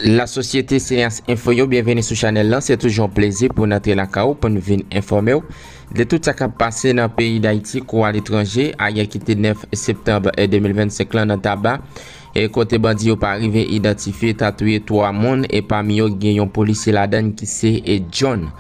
La sosyete seyans enfo yo byenveni sou chanel lan se toujou an plezi pou nan te laka ou pou n vin enfòme ou de tout sa kap pase nan peyi dayiti kou a letranje a ye kite 9 septemb e 2025 lan nan taba e kote bandi yo pa rive idantifye ta touye 3 moun e pa mi yo gen yon polisye ladann ki se e djon.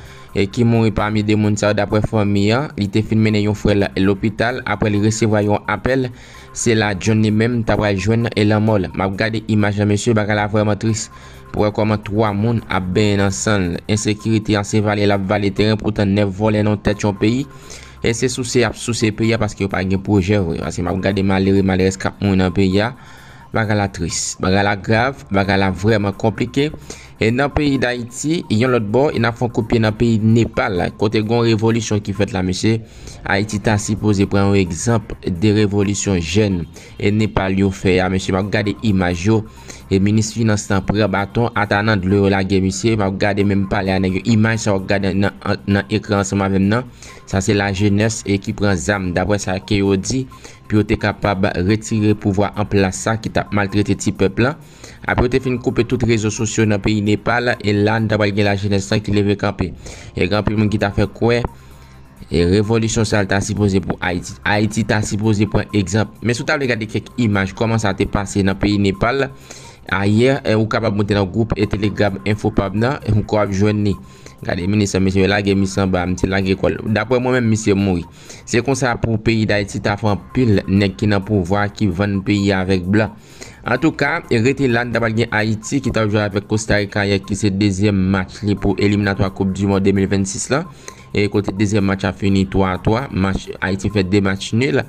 ki mouri pami 2 moun sa yo daprè fanmi an, li te fin mennen yon frè l lopital aprè li resevwa yon apèl se la John li menm ta pral jwenn lanmò l map gade imaj la mesye bagay la vrèman tris pou wè kòman 3 moun ap benyen nan san l ensekirite an se vale lap vale teren poutan 9 vòlè nan tèt yon peyi e se souse yap souse peyi a paske yo pa gen pwojè vre paske map gade malere malerèz kap mouri nan peyi a bagay la tris bagay la grav bagay la vrèman konplike. E nan peyi dayiti yon lòt bò e nap fè yon kout pye nan peyi Nepal kote gon revolisyon ki fèt la mesye ayiti ta sipoze pran yon egzanp de revolisyon jèn e Nepal yo fè a mesye map gade imaj yo e minis finans lan pran baton ata nan dlo yo lage misye map gade menm pale a nèg yo imaj sa wap gade nan ekran ansanm avèm nan sa se lajenès e ki pran zam daprè sa ke yo di pou yo te kapab retire pouvwa anplas sa ki tap maltrete ti pèp lan. Apre yo te fin koupe tout rezo sosyo nan peyi Nepal, e la nou ta pral gen lajenès lan ki leve kanpe. E gen anpil moun ki ta fè kwè e revolisyon sa l ta sipoze pou Ayiti. Ayiti ta sipoze pran egzanp. Men si w ta vle gade kèk imaj kòman sa te pase nan peyi Nepal ayè, ou kapab moute nan gwoup e telegram Enfopab nan ou ka ap jwenn li. Gade minis lan, mesye lage mis lan ba, misye lage kò l. Dapre mwen menm misye mouri. Se konsa pou peyi Dayiti ta fè anpil nèg ki nan pouvwa ki vann peyi a avèk blan. Antouka, rete la, n ta pral gen Ayiti ki t ap jwe avèk Kostarika yè ki se dezyèm match li pou eliminatwa koup di mond 2026 la e kote dezyèm match la fini 3 a 3 match Ayiti fè 2 match nil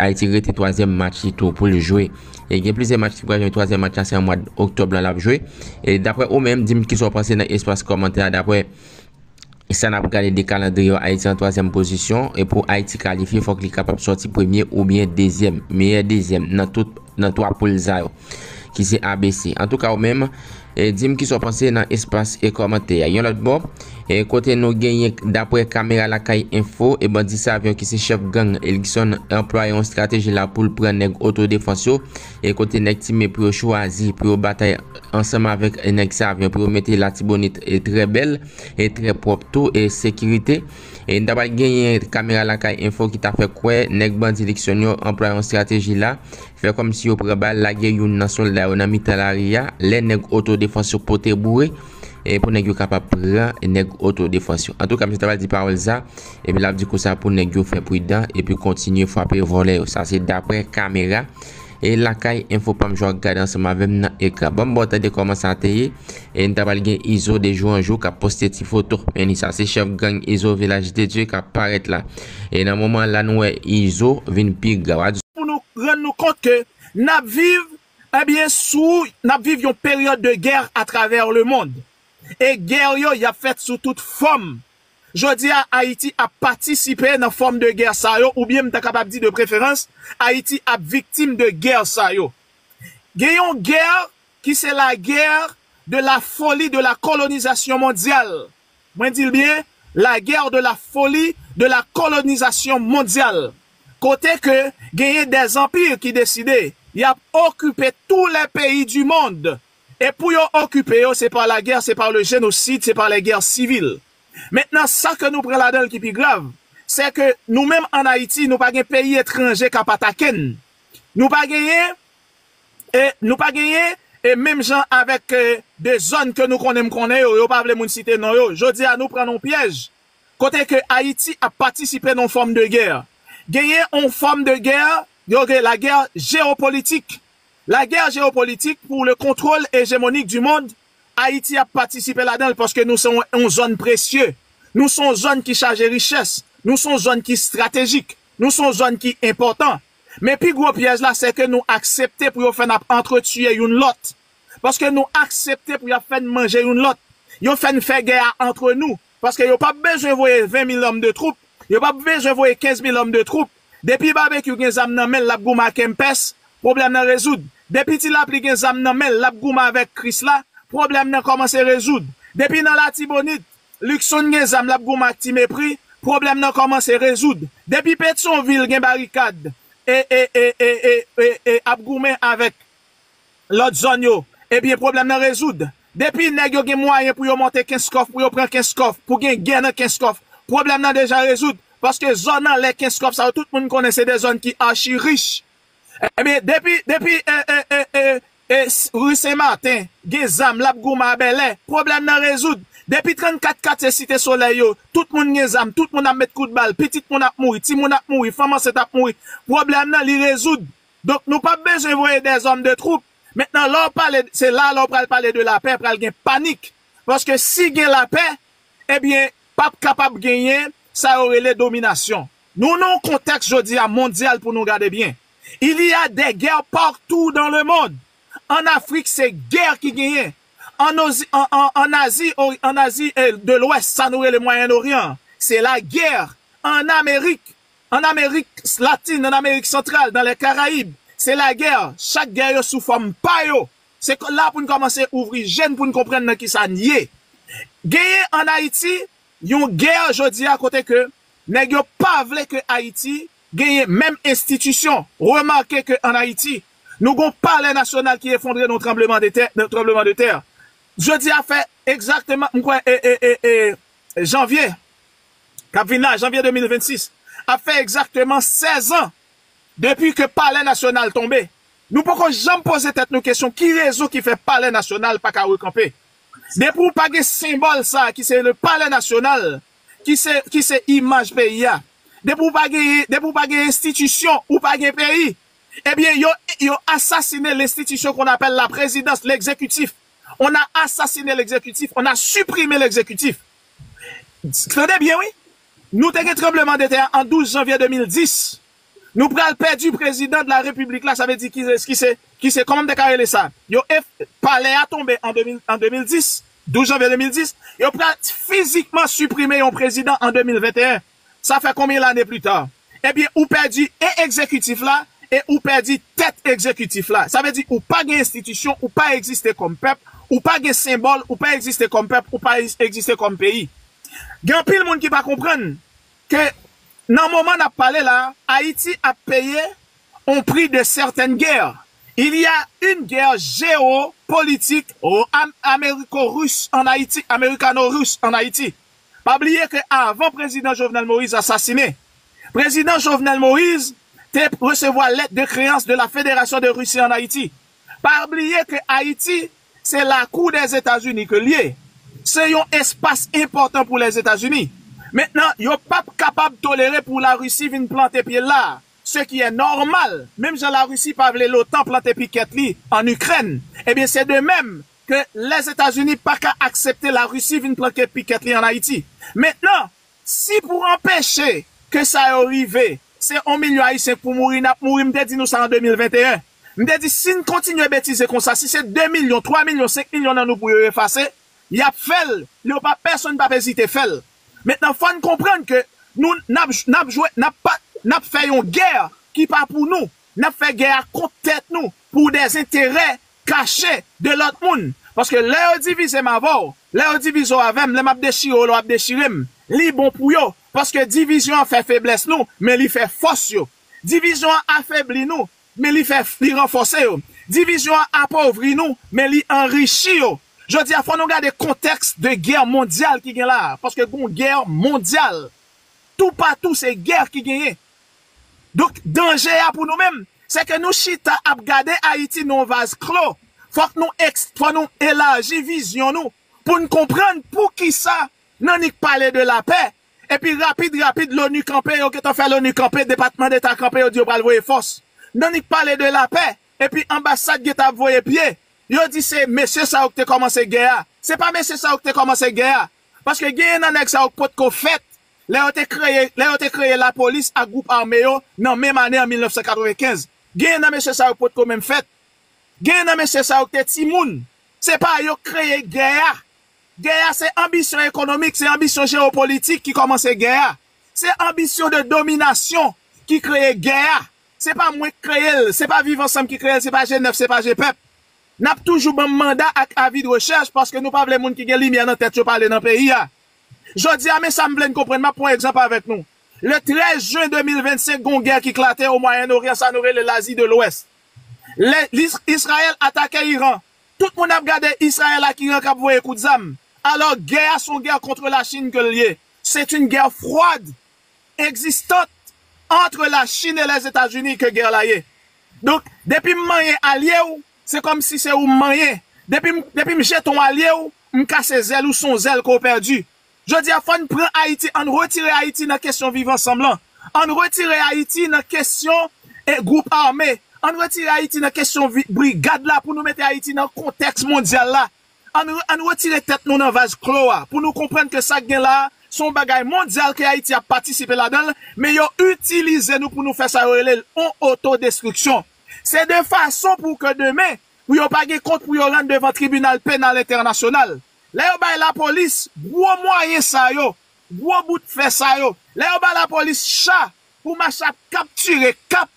Ayiti rete twazyèm match li tou pou l jwe e gen plizyè match ki pral jwe twazyèm match la se an mwad oktòb la l ap jwe e daprè ou menm di m kisa w panse nan espas kòmantè a daprè E sa n ap gade de kalandriye yo, Ayiti nan twazyèm pozisyon. E pou Ayiti kalifye, fòk li kapab sòti premye oubyen dezyèm. Meyè dezyèm nan tout nan twa poul sa yo. Ki se A, B, C. Antouka ou menm, di m kisa w panse nan espas kòmantè a. Yon lòt bò, kote nou genyen daprè kamera lakay enfo, e bandi Savyon ki se chèf gang Elkson anplwaye yon estrateji la pou l pran nèg otodefans yo. E kote nèg Time pou yo chwazi pou yo batay ansanm avèk nèg Savyon pou yo mete Latibonit trè bèl e trè pwòp tou e sekirite. E n ta pral genyen kamera lakay enfo ki ta fè kwè nèg bandi Likson yo anplwaye yon estrateji la, fè kòmsi yo pran bal lage youn nan sòlda yo nan mitan lari a lè nèg otodefans yo pote boure pou nèg yo kapab pran nèg otodefans yo. Antouka m te ta pral di pawòl sa. Epi lap di konsa pou nèg yo fè pridan epi kontinye fwape vòlè yo. Sa se daprè kamera e lakay Infopam Jwa gade ansanm avèm nan ekran. Banm baw tande kòman sa te ye e n ta pral gen Izo de jou an jou kap poste ti foto. Men li sa se chèf gang Izo Vilaj de Dye kap parèt la. E nan moman la nou wè Izo vin pi gra. pou nou rann nou kont ke nap viv ebyen sou nap viv yon peryòd de gè atravè lemond e gè yo yap fèt sou tout fòm Jodi a, Ayiti ap patisipe nan fòm de gè sa yo oubyen m ta kapab di de preferans, Ayiti ap viktim de gè sa yo. Gen yon gè ki se la gè de la foli de la kolonizasyon mondyal. Mwen di l byen, la gè de la foli de la kolonizasyon mondyal. Kote ke genyen de zanpir ki deside y ap okipe tou lè peyi di mond Et pou yo okipe yo se par la guerre se par le genocide se par les guerres civiles mentnan sa ke nou pran ladanl ki pi grav sè ke nou menm an Ayiti nou pa gen peyi etranje kap atake'n nou pa genyen e nou pa genyen e menm jan avèk de zòn ke nou konnen m konnen yo yo pa vle moun site non yo jodi a nou pran nan pyèj kote ke Ayiti ap patisipe nan fòm de guerre genyen yon fòm de guerre yo rele la guerre géopolitique La guerre géopolitique pour le contrôle hégémonique du monde, Ayiti ap patisipe ladan l paske nou se yon zòn presye, nou se yon zòn ki chaje richès, nou se yon zòn ki stratejik, nou se yon zòn ki enpòtan. Men pi gwo pyèj la sè ke nou aksepte pou yo fè n ap antretuye youn lòt. Paske nou aksepte pou y ap fè n manje youn lòt. Yo fè n fè gè a antre nou. Paske yo pap bezwen voye 20 mil òm de twoup, yo pap bezwen voye 15 mil òm de twoup. Depi Babekyou gen zam nan menl lap goumen a Kempès, pwoblèm nan rezoud. Depi Ti Lapli gen zam nan menl lap goumen avèk Krisla, pwoblèm nan kòmanse rezoud. Depi nan Latibonit, Luckson gen zam lap goumen ak Ti Mepri, pwoblèm nan kòmanse rezoud. Depi Petyonvil gen barikad e e e e e e e ap goumen avèk lòt zòn yo, ebyen pwoblèm nan rezoud. Depi nèg yo gen mwayen pou yo monte Kenskòf, pou yo pran Kenskòf, pou gen gè nan Kenskòf, pwoblèm nan deja rezoud, paske zòn anlè Kenskòf sa yo tout moun konnen se 2 zòn ki achi rich. Ebyen depi, depi e, e, e, e, e, ri Sen Maten gen zam l ap goumen a Bèlè, pwoblèm nan rezoud. Depi 34 katye Site Solèy yo, tout moun gen zam, tout moun ap met kout bal, pitit moun ap mouri, timoun ap mouri, fanm ansent ap mouri, pwoblèm nan li rezoud. Donk nou pap bezwen voye des hommes de troupes Mentnan lè w pale se la lè w pral pale de lapè pral gen panik paske si gen lapè ebyen pap kapab genyen sa yo rele dominasyon Nou nan yon kontèks jodi a mondyal pou nou gade byen Il y a des guerres partout dans le monde An Afrik se gè ki genyen An ozi an Azi an Azi de lwès sa nou rele Mwayen Oryan an se lagè An Amerik An Amerik Latin, an Amerik Santral, dan lè Karayib, se lagè, chak gè yo sou fòm pa yo. Se la pou n kòmanse ouvri je n pou n konprann nan kisa n ye. Genyen an Ayiti yon gè jodi a kote ke nèg yo pa vle ke Ayiti genyen menm enstitisyon. Remake ke an Ayiti, nou gen yon palè nasyonal ki efondre nan yon tranbleman de tè, tranbleman de tè. Jodi a fè egzakteman, m kwè, e, e, e, e, janvye. k ap vin la, janvye 2026, ap fè egzakteman 16 an depi ke Palè Nasyonal tonbe. Nou poko janm poze tèt nou kesyon ki rezon ki fè Palè Nasyonal pa ka rekanpe. Depi w pa gen senbòl sa a ki se le Palè Nasyonal, ki se, ki se imaj peyi a, depi w pa genyen, depi w pa gen enstitisyon, ou pa gen peyi. Ebyen, yo, yo asasine lenstitisyon kon apèl la prezidans, legzekitif. On a assassiné l'exécutif, on a supprimé l'exécutif. Tande byen wi, nou te gen tranbleman de tè a an 12 janvye 2010, nou pral pèdi prezidan de la repiblik la, sa vle di ki se kòman m te ka rele sa, yo palè a tonbe an 2010, 12 janvye 2010, yo pral fizikman siprime yon prezidan an 2021. Sa fè konbyen lane plus tard? Ebyen ou pèdi e egzekitif la e ou pèdi tèt egzekitif la. Sa vle di ou pa gen enstitisyon, ou pa egziste kòm pèp, ou pa gen senbòl, ou pa egziste kòm pèp, ou pa egziste kòm peyi. Gen anpil moun ki pa konprann ke nan moman nap pale la Ayiti ap peye on prix de certaines guerres. Il y a une guerre geo-politique amériko-russe en Haïti, amérikano-russe en Haïti. Pa bliye ke avan prezidan Jovenel Moïse asasine, prezidan Jovenel Moïse te resevwa lèt de kreyans de la Federasyon de Russie an Ayiti. Pa bliye ke Ayiti se lakou Dèzetazini ke l ye, se yon espas enpòtan pou Lèzetazini. Mentnan, yo p ap kapab tolere pou la Russie vin plante pye l la, se ki è nòmal, menm jan la Russie pa vle l'OTAN plante pikèt li an Ikrèn, ebyen se de mèm ke Lèzetazini pa ka aksepte La Risi vin planke pikèt li an Ayiti. Mentnan, si pou anpeche ke sa yo rive, se on milyon Ayisyen k pou mouri, n ap mouri, m te di nou sa an 2021. M te di si n kontinye betize konsa, si se 2 milyon, 3 milyon, 5 milyon nan nou pou yo efase, y ap fè l, yo pa, pèsonn p ap ezite fè l. Mentnan fò n konprann ke nou, n ap, n ap jwe, n ap pa, n ap fè yon gè ki pa pou nou, n ap fè gè a kont tèt nou, pou dèzenterè kache de lòt moun, paske lè yo divize m avè w, lè yo divize w avè m, lè m ap dechire w, lè w ap dechire m, li bon pou yo, paske divizyon an fè feblès nou, men li fè fòs yo. Divizyon an afebli nou, men li fè, li ranfòse yo. Divizyon an apovri nou, men li anrichi yo. Jodi a, fò nou gade kontèks de gè mondyal ki gen la a, paske gen yon gè mondyal. Toupatou se gè ki genyen. Donk danje a pou nou menm, se ke nou chita ap gade Ayiti nan yon vaz klo. Fòk nou fòk nou elaji vizyon nou pou n konprann pou ki sa n annik pale de lapè, epi rapid rapid Loni kanpe, yo gentan fè Loni kanpe, Depatman Deta kanpe, yo di yo pral voye fòs. N annik pale de lapè, epi anbasad gentan ap voye pye, yo di se mesye sa yo ki te kòmanse gè a. Se pa mesye sa yo ki te kòmanse gè a, paske genyen nan nèg sa yo ki potko fèt lè yo te kreye lè yo te kreye lapolis ak gwoup ame yo nan menm ane an 1995. Genyen nan mesye sa yo potko menm fèt. Genyen nan mesye sa yo ki te timoun. Se pa yo ki kreye gè a. Gè a se anbisyon ekonomik, se anbisyon jewopolitik ki kòmanse gè a. Se anbisyon de dominasyon ki kreye gè a. Se pa mwen ki kreye l, se pa Viv Ansanm ki kreye l, se pa G9, se pa Gpèp. N ap toujou ban m manda ak avi de rechèch paske nou pa vle moun ki gen limyè nan tèt yo pale nan peyi a. Jodi a, men sa m vle n konprann, m ap pran egzanp avèk nou. Le 13 jen 2025, gen yon gè ki klate o Mwayen Oryan, sa nou rele Lazi de Lwès. Lè Israel atake Iran, tout moun ap gade Israel ak Iran k ap voye kout zam. Alò, gè a se yon gè contre la Chine ke l ye. C'est une guerre froide existante entre la Chine et les Etats-Unis ke gè la ye. Donk, depi m manyen alye w, Se kòmsi se ou m manyen. Depi depi m jeton alye w, m kase zèl ou son zèl ke w pèdi. Jodi a fò n pran Ayiti, ann retire Ayiti nan kesyon viv ansanm lan. Ann retire Ayiti nan kesyon e gwoup ame. Ann retire Ayiti nan kesyon brigad la pou nou mete Ayiti nan kontèks mondyal la. Ann ann retire tèt nou nan vaz klo a pou nou konprann ke sa k gen la a se yon bagay mondyal ke Ayiti ap patisipe ladan l men yo itilize nou pou nou fè sa yo rele l yon oto destriksyon. Se de fason pou ke demen, pou yo pa gen kont pou yo rann devan tribinal penal entènasyonal. Lè yo bay lapolis gwo mwayen sa yo, gwo bout fè sa yo, lè yo bay lapolis cha pou mache ap kaptire, kap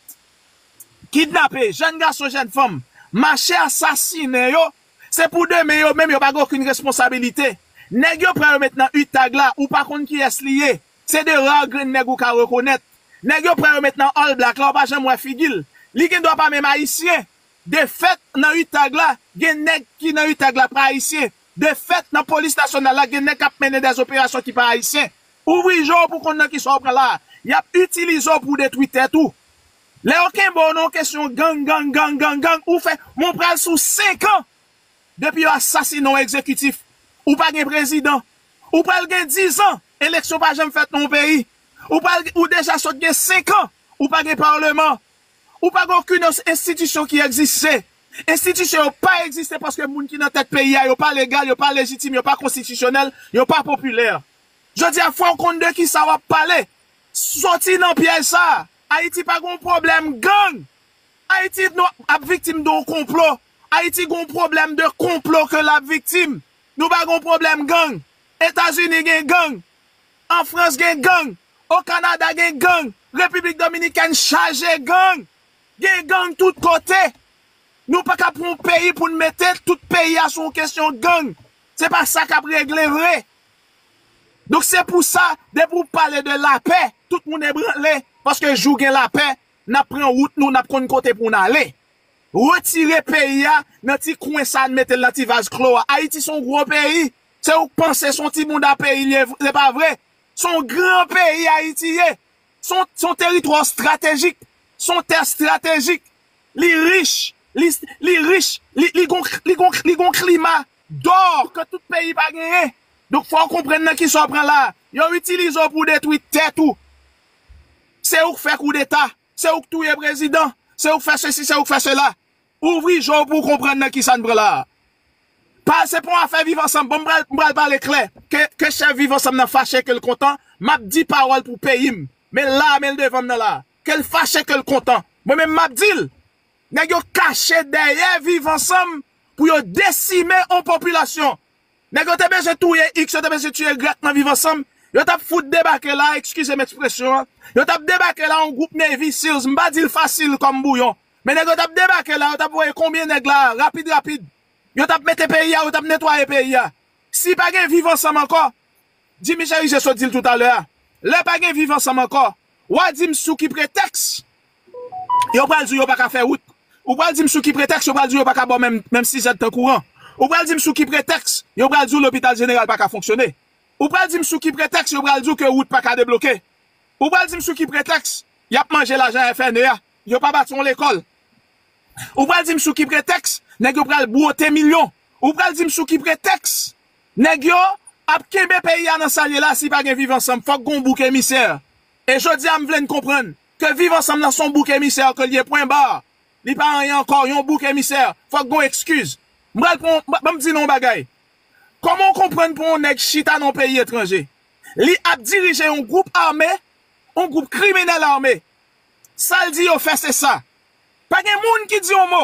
kidnape jèn gason, jèn fanm, mache asasinen yo, se pou demen yo menm yo pa gen okenn responsabilite. Nèg yo pran yo met nan utag la, ou pa konn kiyès li ye, Se 2 rare grenn nèg ou ka rekonèt. Nèg yo pran yo met nan All Black la ou pa janm wè figi l. Li gen dwa pa menm Ayisyen. De fèt nan Utag la gen nèg ki nan Utag la pa Ayisyen. De fèt nan Polis Nasyonal la gen nèg k ap mennen dè zoperasyon ki pa Ayisyen. Ouvri je w pou w konn nan kisa w pran la a. Y ap itilize w pou w detwi tèt ou. Lè yo kenbe w nan yon kesyon gang gang gang gang gang ou fè men w pral sou 5 an depi yo asasinen w egzekitif. Ou pa gen prezidan. Ou pral gen 10 ans Eleksyon pa janm fèt nan yon peyi. Ou pa ou deja sot gen 5 an ou pa gen parleman. Ou pa gen okenn enstitisyon ki egziste. Enstitisyon yo pa egziste paske moun ki nan tèt peyi a yo pa legal, yo pa lejitim, yo pa konstitisyonèl, yo pa popilè. Jodi a fò w konn de kisa w ap pale. Soti nan pyèj sa. Ayiti pa gen yon pwoblèm gang. Ayiti ap viktim de yon konplo. Ayiti gen yon pwoblèm de konplo ke l ap viktim. Nou pa gon pwoblèm gang. Etazini gen gang. An Frans gen gang. O Kanada gen gang. Repiblik Dominikèn chaje gang. Gen gang tout kote. Nou pa ka pran yon peyi pou n mete tout peyi a sou yon kesyon gang. Se pa sa k ap regle vre. Donk se pou sa depi ou pale de lapè tout moun ebranle paske jou gen lapè n ap pran wout nou n ap konn kote pou n ale. Retire peyi a nan ti kwen sa n mete l nan ti vaz klo a. Ayiti se yon gwo peyi. Se ou k panse se yon ti bounda peyi li ye, se pa vre. Se yon gran peyi Ayiti ye. Se yon teritwa estratejik. Se yon tè estratejik. Li rich. Li rich. Li gen yon klima dò ke tout peyi pa genyen. Donk fò ou konprann nan kisa ou pran la a. Yo itilize ou pou detwi tèt ou. Se ou k fè koudeta. Se ou k touye prezidan, se ou k fè sesi, se ou k fè sela. Ouvri je w pou w konprann nan kisa n pran la a. Pa, se pa yon afè viv ansanm. Bon, m pral, m pral pale klè. Ke, ke chèf viv ansanm nan fache, ke l kontan, m ap di pawòl pou peyi m. Men l la a, men l devan m nan la a. Ke l fache, ke l kontan. Mwen menm m ap di l. Nèg yo kache dèyè viv ansanm pou yo desime yon popilasyon. Nèg yo te bezwen touye X, yo te bezwen tiye Y nan viv ansanm, yo tap fout debake la, ekskizem ekspresyon an, yo tap debake la yon gwoup Navy seals, m pa dil fasil kòm bouyon, men nèg yo tap debake la, yo tap voye konbyen nèg la rapid rapid, yo tap mete peyi a, yo tap netwaye peyi a. Si pa gen viv ansanm ankò, Jimmy Cherizier sot dil toutalè a, lè pa gen viv ansanm ankò, wa dim sou ki pretèks Yo pral di w yo pa ka fè wout. Ou pral di m sou ki pretèks yo pral di w yo pa ka ba w menm sizèd tan kouran. Ou pral di m sou ki pretèks yo pral di w lopital jeneral pa ka fonksyone. Ou pral di m sou ki pretèks yo pral di w ke wout pa ka debloke. Ou pral di m sou ki pretèks y ap manje lajan FNE a, yo pa bati yon lekòl. Ou pral di m sou ki pretèks nèg yo pral bwote milyon. Ou pral di m sou ki pretèks nèg yo ap kenbe peyi a nan sa l ye la si pa gen viv ansanm. Fòk gen yon bouk emisè. E jodi a m vle n konprann Ke viv ansanm lan son bouk emisè ke l ye pwen bar li pa anyen ankò yon bouk emisè fòk gon ekskiz m pral pran yon banm di nou yon bagay kòman w konprann pou yon nèg chita nan yon peyi etranje li ap dirije yon gwoup ame yon gwoup kriminèl ame sa l di yo fè se sa pa gen moun ki di yon mo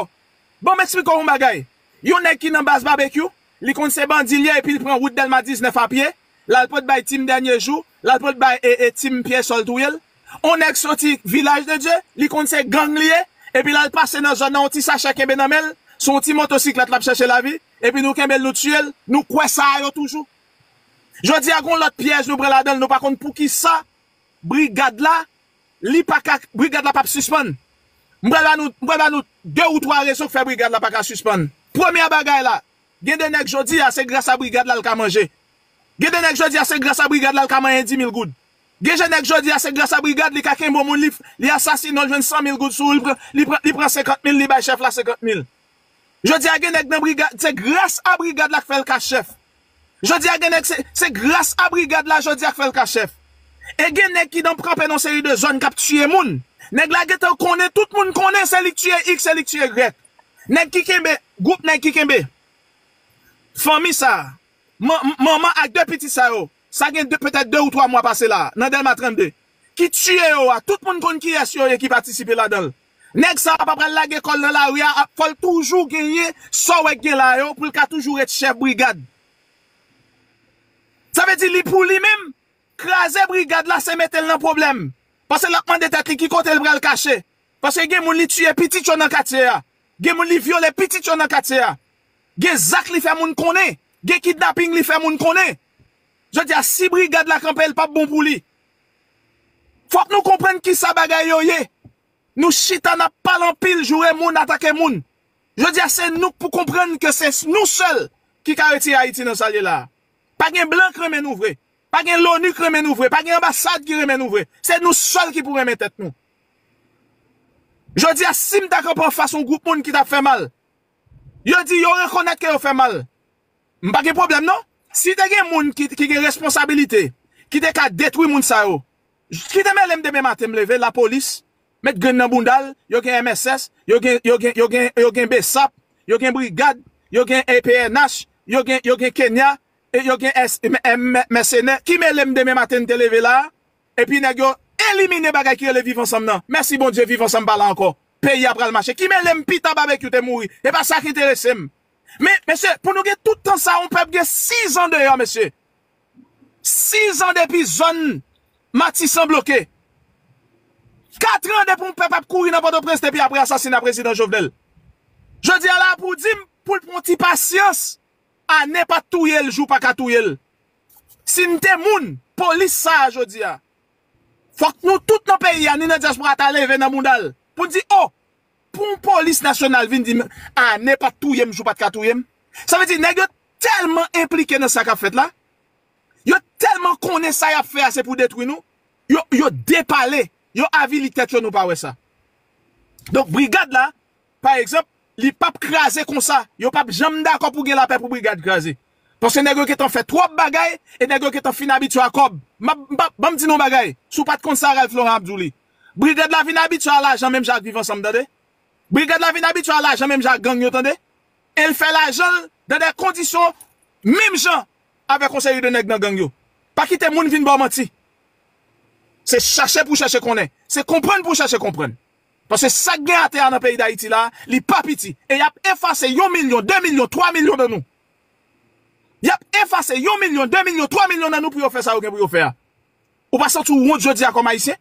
banm eksplike w yon bagay yon nèg ki nan baz babekyou Li konn se bandi l ye epil pran wout delma 19 a pye lal pot bay team dènye jou lal pot bay team pye sòl touyel on nèg soti vilaj de Dye li konn se gang li ye epi lal pase nan zòn nan on ti sachè kenbe nan menl sou on ti motosiklèt lap chèche lavi epi nou kenbel nou tiyel nou kwè sa a yo toujou jodia gon lòt pyèj nou pran ladanl nou pa konn poukisa brigad la Li pa ka, brigad la pap sispann. M pral ba nou, m pral ba nou 2 ou 3 rezon k fè brigad la pa ka sispann. Premyè bagay la, gen de nèg jodi a se gras a brigad la l ka manje. Gen de nèg jodi a se gras a brigad la l ka manyen 10 mil goud. Gen je nèg jodi a se gras a brigad li ka kenbe on moun li, li asasine l jwenn 100 mil goud sou li pran, li pran, li pran 50 mil li bay chèf la 50 mil. Jodi a gen nèg nan brigad se gras a brigad la k fè l ka chèf. Jodi a gen nèg se se gras a brigad la jodi a k fè l ka chèf. E gen nèg ki nan kanpe nan seri de zòn k ap tiye moun. Nèg la gen tan konnen tout moun konnen se li k tiye iks se li k tiye ygrèk. Nèg ki kenbe gwoup nèg ki kenbe fanmi sa a man manman ak de pitit sa yo sa gen de petèt de ou twa mwa pase la a nan Dèlma 32 ki tiye yo a tout moun konn kiyès yo ye ki patisipe ladan l. Nèg sa pa pral lage kòl nan lari a ap fòl toujou genyen sa w wè k gen la yo poul ka toujou ret chèf brigad sa vle di li pou li menm kraze brigad la se metel nan pwoblèm paske lap mande tèt li ki kote l pral kache paske gen moun li tiye pitit yo nan katye a gen moun li vyole pitit yo nan katye a gen zak li fè moun konnen gen kidnaping li fè moun konnen jodi a si brigad la kanpe l pap bon pou li. Fòk nou konprann kisa bagay yo ye. Nou chita nap pale anpil joure moun atake moun. Jodi a se nou k pou konprann ke se nou sèl ki ka retire Ayiti nan sal ye la a. Pa gen blan k renmen nou vre. Pa gen loni k renmen nou vre. Pa gen anbasad ki renmen nou vre. Se nou sèl ki pou renmen tèt nou. Jodi a sim ta kanpe anfas yon gwoup moun ki tap fè mal. Yo di yo rekonèt ke yo fè mal. M pa gen pwoblèm non. Si te gen moun ki gen responsabilite ki te ka detwi moun sa yo ki te mele m demen maten m leve lapolis met grenn nan bounda l yo gen mss yo gen yo gen yo gen yo gen bsap yo gen brigad yo gen pnh yo gen yo gen kenya yo gen mèsenè ki mele m demen maten m te leve la a epi nèg yo elimine bagay ki rele viv ansanm nan mèsi bondye viv ansanm pa la ankò peyi a pral mache ki mele m pita babekyou te mouri e pa sa k enterese m Men, mesye, pou nou gen tout tan sa a, yon pèp gen 6 an deyò, mesye. 6 an depi zòn Matisan bloke. 4 an depi yon pèp ap kouri nan Pòtoprens depi apre asasina Prezidan Jovenel. Jodi a la a pou w di m, pou l pran yon ti pasyans, ane pa t touye l, jou pa ka touye l. Si n te moun, polis sa a jodi a, fòk nou tout nan peyi a, ni nan dyaspora a ta leve nan bounda l, pou n di, o! Pou yon polis nasyonal vin di m Anne pat touye m si w pat ka touye m? Sa vle di nèg yo tèlman enplike nan sa k ap fèt la, yo tèlman konnen sa y ap fè a se pou detwi nou, yo depale, yo avili tèt yo nou pa wè sa. Donk brigad la pa egzanp li p ap kraze konsa, yo p ap janm dakò pou gen lapè pou brigad kraze. Paske nèg yo gentan fè twòp bagay e nèg yo gentan fin abitye a kòb. M ap, ban m di nou yon bagay, si w pat konn sa Ralph Laurent ap di w li. Brigad la vin abitye a lajan menm jan ak viv ansanm tande. Brigad la vin abitye a lajan menm jan ak gang yo tande. El fè lajan l dan dè kondisyon menm jan avèk yon seri de nèg nan gang yo. Pa kite moun vin ba w manti. Se chache pou w chache konnen. Se konprann pou w chache konprann. Paske sa k gen atè a nan peyi Dayiti la a, li pa piti. E y ap efase yon milyon, de milyon, twa milyon nan nou. Y ap efase yon milyon, de milyon, twa milyon nan nou pou yo fè sa yo gen pou yo fè a. Ou pa santi w wont jodi a kòm Ayisyen?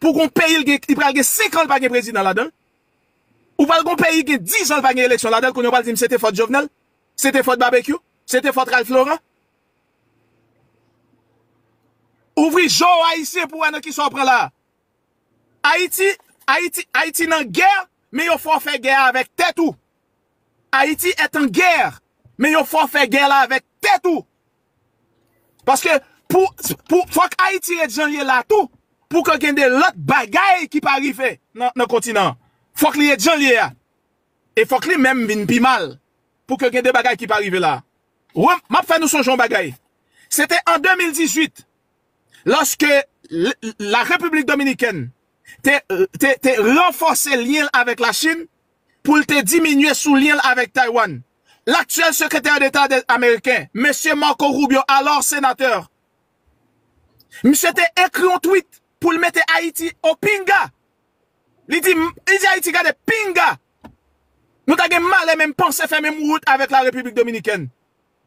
Pou gon peyi l gen li pral gen 5 an l pa gen prezidan ladan l? Ou pral gon peyi gen 10 an l pa gen eleksyon ladan l kounye w pral di m se te fòt Jovenel? Se te fòt Babekyou? Se te fòt Ralph Laurent? Ouvri je w Ayisyen pou w wè nan kisa w pran la a. Ayiti Ayiti Ayiti nan gè men yo fè w fè gè a avèk tèt ou. Ayiti est en guerre men yo fè w fè gè la avèk tèt ou. Paske pou pou fòk Ayiti ret jan l ye la tou pou ke gen de lòt bagay ki pa rive nan kontinan an. Fòk li ret jan l ye a. E fòk li menm vin pi mal pou ke gen de bagay ki pa rive la a. Wè m ap fè nou sonje yon bagay. Se te an 2018 lòske la Repiblik Dominikèn te te te ranfòse lyen l avèk Lachin pou l te diminye sou lyen l avèk Taiwan. Laktyèl Sekretè Deta ameriken, Mesye Marco Rubio, alò senatè, misye te ekri yon tweet pou l mete Ayiti o pinga. Li di, li di Ayiti gade pinga nou ta gen malè menm panse fè menm wout avèk la Repiblik Dominikèn.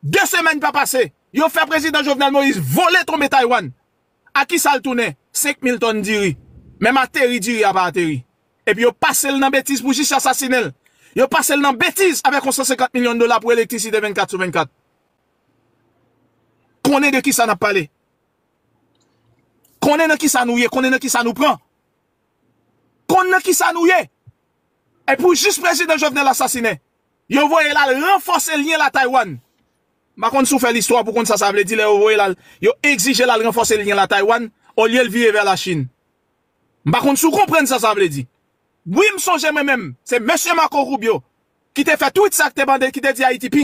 De semèn pa pase, yo fè Prezidan Jovenel Moïse vole tonbe Taiwan. A kisa l tounen 5 mil tòn diri? Menm ateri diri a pa ateri. Epi yo pase l nan betiz pou jis asasinen l. Yo pase l nan betiz avèk yon 150 milyon dola pou elektrisite 24 sou 24. Konnen de kisa n ap pale. Konnen nan kisa nou ye, konnen nan kisa nou pran. Konn nan kisa nou ye. E pou jis prezidan Jovenel asasinen, yo voye l al ranfòse lyen la Taywann. M pa konn si w fè listwa pou w konn sa sa vle di lè yo voye l al, yo egzije l al ranfòse lyen l a Taiwan olye l vire vè la Chin. M pa konn si w konprann sa sa vle di. Wi m sonje mwen menm, se Mesye Marco Rubio ki te fè tweet sa k te mande, ki te di Ayiti pi.